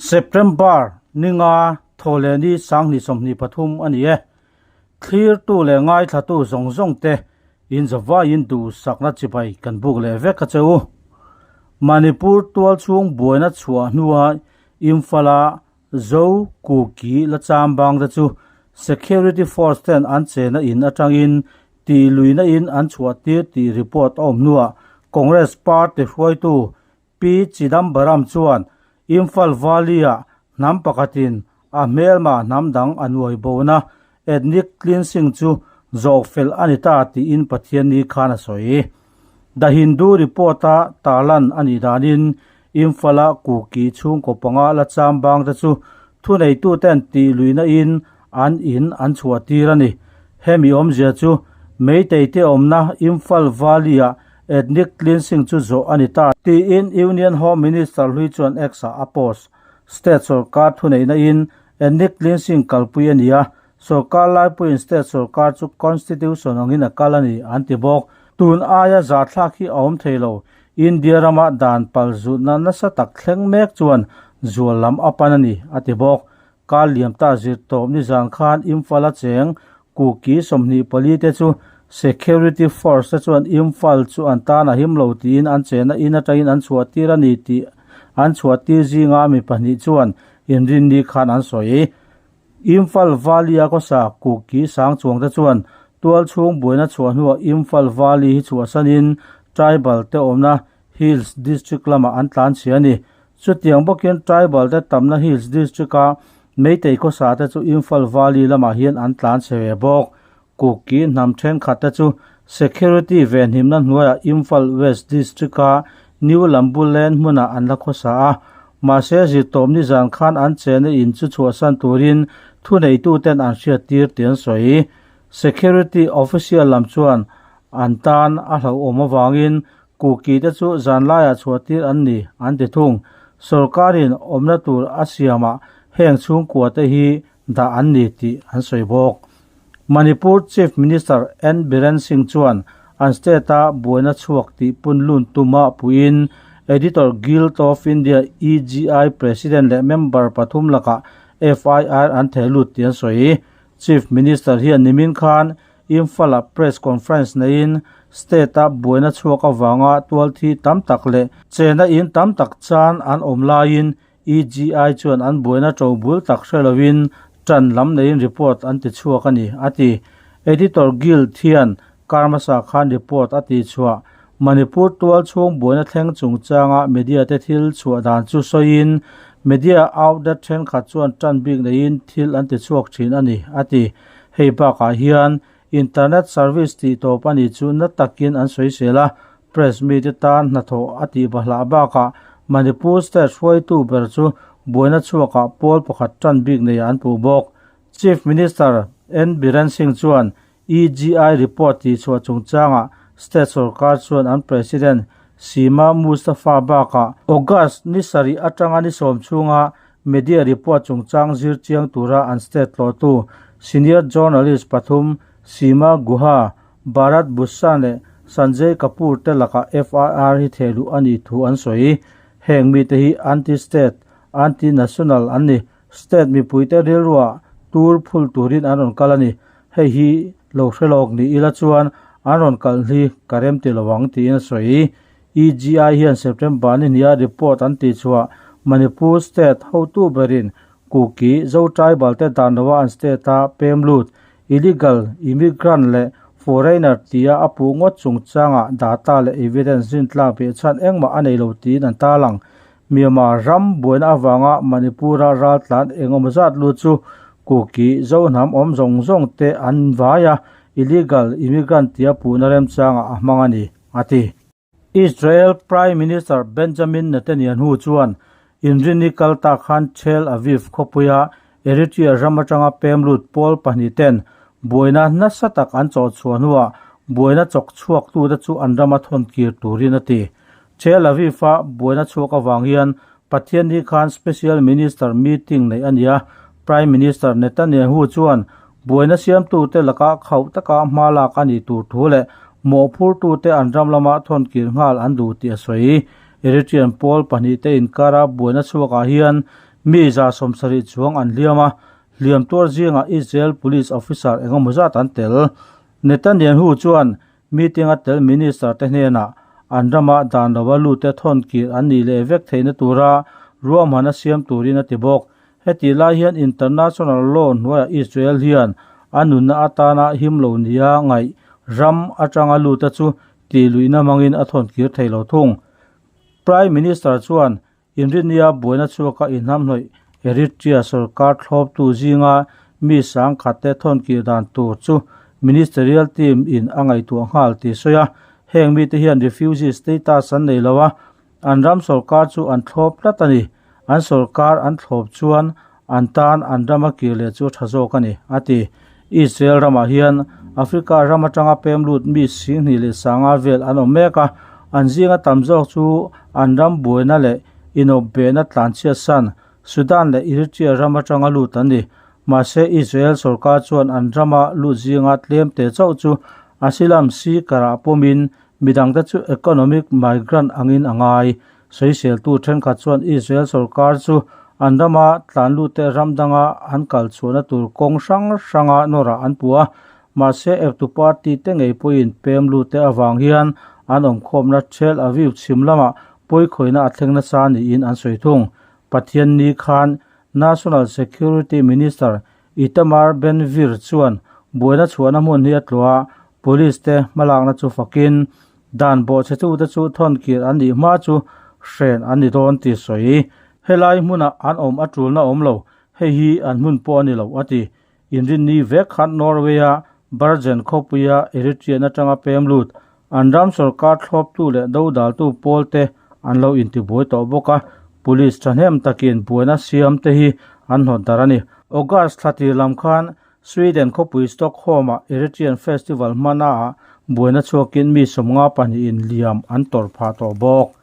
September ninga Thawhlehni Sanghnih sawmhnih pathum a ni e. Thlirtu leh ngaithlatu zawng zawng te in zavaiin duhsakna chibai kan buk leh vek a che u. Manipur tualchhung buaina chhuah hnuai Imphal a Zo Kuki lacham bang te chu security force ten an chena in atangin tih luina in an chhuah tir tih report a awm hnuah Congress party hruaitu P Chidambaram chuan Imphal Valley-ah hnam pakhatin a hmelma hnam dang a nuaibona Ethnic cleansing chu zawh fel a ni ta tiin Pathian ni khan a sawi. The Hindu report a Talan a nih danin Imphal-a Kuki chhungkaw panga la cham bangte chu thuneituten tih luina in an in an chhuahtir a ni. Hemi awmzia chu Meiteite awmna Imphal Valley-a ethnic cleansing chu zawh a ni ta tiin Union Home Minister hlui chuan X-a a post. State sawrkar thuneihna in Ethnic cleansing kalpui a ni a, sorkar laipuiin state sorkar chu constitution angin a kal a ni an ti bawk. Tun aia zahthlak hi a awm thei lo, India rama dan pal zutna nasa tak thleng mek chuan zual lam a pan a ni a ti bawk. Kal liam ta zir tawp nizan khan Imphal a cheng Kuki sawmhnih pali te chu security force te chuan Imphal chu an tan a him lo tiin an chena in atangin an chhuah tir a ni tih an chhuah tir zinga mi pahnih chuan Inrinni khan an sawi i, Imphal Valley a kawsa Kuki Sangchuang te chuan tual chhung buaina chhuah hnuah Imphal Valley hi chhuahsan in Tribal te awmna Hills District lamah an tlanchhia a ni. Chutiang bawkin Tribal te tamna Hills District a Meitei khawsa te chu Imphal Valley lamah hian an tlanchhe ve bawk. Kuki hnam thenkhat te chu security ve hnimna hnuaiah Imphal West District-a New Lambu Lane hmuna an la khawsa a. Mahse, zirtawp nizan khan an chena in chu chhuahsan turin thuneituten an hriattir tih an sawi. Security official lam chuan an tan a hlauhawm avangin Kuki te chu zanlaiah chhuahtir an ni an ti thung. Sorkarin awmna tur a siamah heng chhungkua te hi dah an ni tih an sawi bawk. Manipur Chief Minister N Biren Singh chuan an state-a buaina chhuak tih punlun tu mah puiin Editor Guild of India, EGI, President leh member pathum lakah FIR an theh lut tih an sawi. Chief Minister hian nimin khan Imphal-a press conference neiin state-a buaina chhuak avanga tualthi tam tak leh chena in tam tak chan an awm laiin EGI chuan an buaina ṭo bul tak hre loin ṭan lam neiin report an tichhuak a ni, a ti. Editor Guild hian Karmasa khan report a tichhuah, Manipur tual chhung buaina thleng chungchanga media te thil chhuah dan chu sawiin media outlet thenkhat chuan ṭan bik neiin thil an tichhuak ṭhin a ni, a ti. Hei bakah hian Internet service tih tawp a nih chu na takin an sawisel a, press meet i tan hnathawh a tih va hlah bakah Manipur state hruaitu ber chu buaina chhuakah pawl pakhat tan bik neiah an puh bawk. Chief Minister N Biren Singh chuan EGI report tihchhuah chungchangah state sorkar chuan an President Sima Mustafa bakah August ni sarih atanga ni sawm chhunga Media report chungchang zir chiang tura an state tlawhtu senior journalist pathum Seema Guha, Bharat Bhushan leh Sanjay Kapoor te lakah FIR hi thehluh a nih thu an sawi. Heng mite hi anti state, anti national an ni. State mipuite rilruah tur phul turin an rawn kal a ni. Hei hi lo hrelawk ni ila chuan an rawn kalh hi ka remtilo ang tiin a sawi. EGI hian September an inhnial report an tih chhuah. Manipur state hotu berin Kuki, Zo tribal te dan lova an state a pem lut, illegal immigrant leh foreigner tia a puh ngawt chung changa data leh evidence zintlak beh chhan engmah a nei lo tiin an tar ang. Myanmar ram buaina avanga Manipura ral tlan engemaw zat lut chu Kuki, Zo hnam awm zawng zawng te an vai a, illegal immigrant tia puhna remchangah a hmang a ni. a ti. Israel Prime Minister Benjamin Netanyahu chuan inrini kal ta khan Tel Aviv khawpuia Eritrea ram atanga pemlut pawl pahnih ten buaina nasa tak an chawh chhuah hnuah buaina chawk chhuaktu te chu an ram a thawn kir turin a ti. Tel Aviv-a buaina chhuak avang hian Pathian ni khan Special Minister meeting neih a nia, Prime Minister Netanyahu chuan buaina siamtute laka khauh taka hma lak a nih tur thu leh mawhphurtute an ram lama thawnkir nghal an duh tih a sawi. Eritrean pawl pahnih te inkara buaina chhuakah hian mi zahsawmsa rih chuang an hliam a, hliam tuar zingah Israel police officer engemaw zat an tel. Netanyahu chuan Meeting a tel Minister te hnenah an rama dan lova lut te thawn kir an nih leh vek theihna tura ruahman a siam turin a ti bawk. Heti lai hian international law hnuaiah Israel hian a nunna atana him lo nia ngaih ram atanga luta chu tih luihna mangin a thawn kir thei lo thung. Prime Minister chuan Engineer buaina chu a ka inhamhlawih Eritrea sorkar thlawptu zinga mi sangkhatte thawnkilh dan tur chu Ministerial team in a ngaihtuah nghal tih sawi a, heng mite hian refugee status an nei lo a, an ram sorkar chu an thlawp tlat a ni, an sorkar an thlawp chuan An tan an ram a kir leh chu a tha zawk a ni, a ti. Israel ramah hian Africa ram atanga pem lut mi singhnih leh sangha vel an awm mek a, an zinga tam zawk chu an ram buaina leh inawp behna tlanchhiat san Sudan leh Eritrea ram atanga lut an ni. Mahse, Israel sorkar chuan an rama lut zinga tlem teh chauh chu asylum seeker-ah pawmin midangte chu economic migrant angin a ngai. Sawiseltu thenkhat chuan Israel sorkar chu an rama tlanlute ram danga an kalchhuahna tur kawng hrang hranga nawrah an pu a, mahse Eptu party te ngei pawhin pem lute avang hian an awmkhawmna Tel Aviv chhim lamah puikhawina a thleng nasa niin an sawi thung. Pathian ni khan National Security Minister Itamar Ben-Gvir chuan buaina chhuahna hmun hi a tluah a, police te hmalakna chu fakin Dan bawh che chute chu Thawnkir an nih hma chu hren an ni dawn ti sawi i, Helai hmunah an awm a tulna awm lo, hei hi an hmun pawh a ni lo a ti. Inrinni vek khan Norway-a Bergen khawpuia Eritrean atanga pem lut an ram sorkar thlawptu leh dodaltu pawlte an lo intibuai tawh bawk a, Police thahnem takin buaina siam te hi an hnawt darh a ni. August thla tirlam khan Sweden khawpui Stockholm-ah Eritrean Festival hmanaah buaina chhuakin mi sawmnga pahnihin liam an tawrh phah tawh bawk.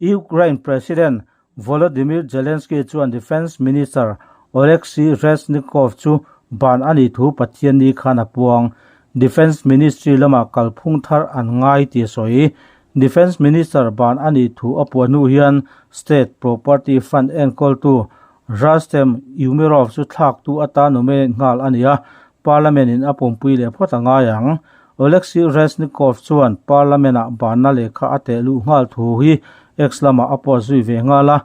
Ukraine President Volodymyr Zelenskyy chuan Defence Minister Oleksiy Reznikov chu ban a nih thu Pathianni khan a puang, Defence Ministry lamah kalphung thar an ngai tih a sawi. Defence Minister ban a nih thu a puah hnu hian State Property Fund enkawltu Rustem Umerov chu thlaktu atan nominate nghal a ni a, Parliament in a pumpui leh phawt a ngai ang. Oleksiy Reznikov chuan Parliament ah banna lehkha a teh luh nghal thu hi X lamah a post zui ve nghal a,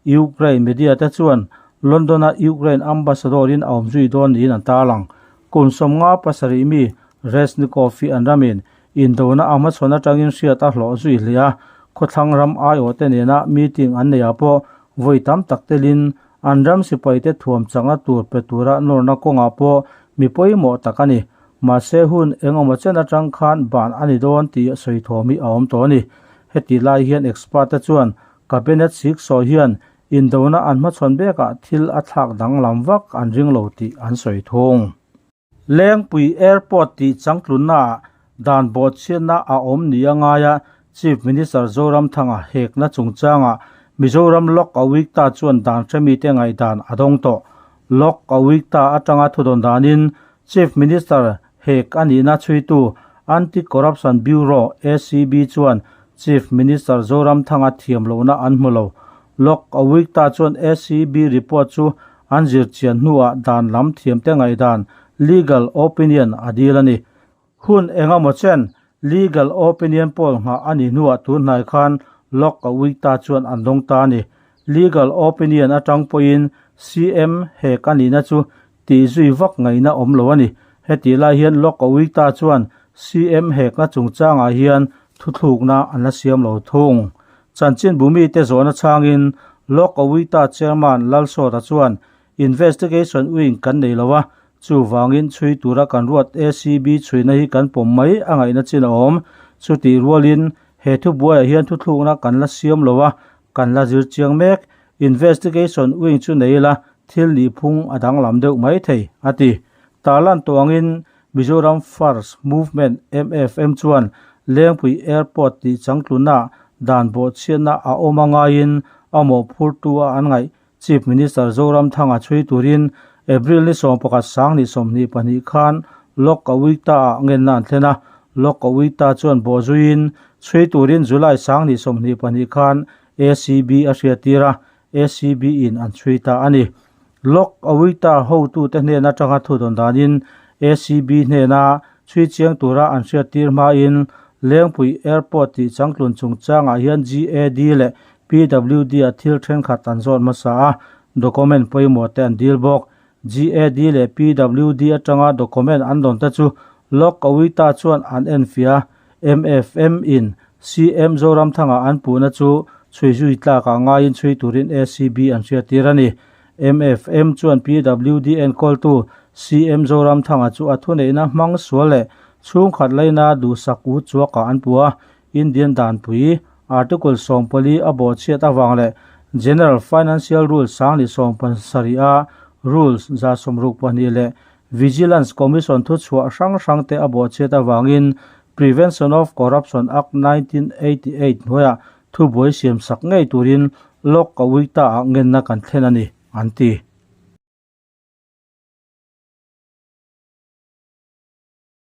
Ukraine media te chuan London a Ukraine ambassador in a awm zui dawn niin an tarlang. Kun sawmnga pasarih mi Reznikov-i an ram in Indona a hmachhawn atangin hriat a hlawh zui hle a, khawthlang ram aiawhte nena meeting an neih ah pawh vawi tam tak telin an ram sipaite thuam changa tur pe tura nawrna kawngah pawh mi pawimawh tak a ni. Mahse hun engemaw chen atang khan ban a ni dawn tih sawi thawm hi a awm tawh a ni. Heti lai hian expert te chuan Cabinet siksawi hian Indona an hmachhawn bekah thil a thlak danglam vak an ring lo tih an sawi thung. Lengpui Airport tih changtlunna ah dan bawhchhiatna a awm nih a ngai a, Chief Minister Zoramthanga hekna chungchanga Mizoram Lok Awikta chuan dan hre mite ngaihdan a dawng tawh. Lok Awikta atanga thudawn danin Chief Minister hek a nihna chhuitu Anti Corruption Bureau, acb, chuan Chief Minister Zoramthanga thiam lohna an hmu lo. Lawk a week ta chuan ACB report chu an zir chian hnuah dan lam thiamte ngaihdan, legal opinion, a dil a ni. Hun engemaw chen legal opinion pawl nghah a ni hnuah tun hnai khan Lawk a week ta chuan an dawng ta a ni. Legal opinion atang pawhin CM hek a nihna chu tih zui vak ngaihna awm lo a ni. Hetih lai hian Lockowiita chuan CM hekna chungchangah hian thuthlukna an la siam lo thung. Chanchinbu mite zawhna chhangin Lockowiita Chairman Lalsawta chuan investigation wing kan nei lo a, chuvangin chhui tura kan ruat ACB chhuina hi kan pawm mai a ngaihna chin a awm. Chutih rualin he thubuaiah hian thuthlukna kan la siam lo a, kan la zir chiang mek. Investigation wing chu nei ila thil nih phung a danglam deuh mai thei, a ti. Tah lantawngin Mizoram First Movement, MFM, chuan Lengpui Airport tih changtluna dan bawhchhiatna a awm a ngaiin a mawhphurtu a an ngaih Chief Minister Zoramthanga chhui turin April ni sawm pakhat sang ni sawmhnih pahnih khan Lawkawita ah ngenna an thlen a. Lawkawita chuan bawhzuiin chhui turin July sang ni sawmhnih pahnih khan ACB a hriattir a, ACB in an chhui ta a ni. Log awi ta hotute hnen atanga thudawn danin ACB hnena chhui chiang tura an hriattir hmain Lengpui Airport tih changtlun chungchangah hian GAD leh PWD-a thil thenkhat an zawt hmasa a, document pawimawhte an dil bawk. GAD leh PWD atanga document an dawn te chu Lok Kawita chuan an en fia. Mfm in CM Zoramthanga an puhna chu chhui zui tlakah ngaiin chhui turin acb an hriattir a ni. Mfm chuan PWD enkawltu CM Zoramthanga chu a thuneihna hmang sual leh chhungkhat laina duhsak u chuakah an pu a, Indian danpui, Article sawm pali a baw chhiat avang leh General Financial Rules sangni sawm pasarih a Rules za sawm ruk pahnih leh Vigilance Commission thuchhuah hrang hrangte a baw chhiat avangin Prevention of Corruption Act nineteen eighty eight hnuaiah thubuai siam sak ngei turin Lok Kawita ah ngenna kan thlen a ni, an ti.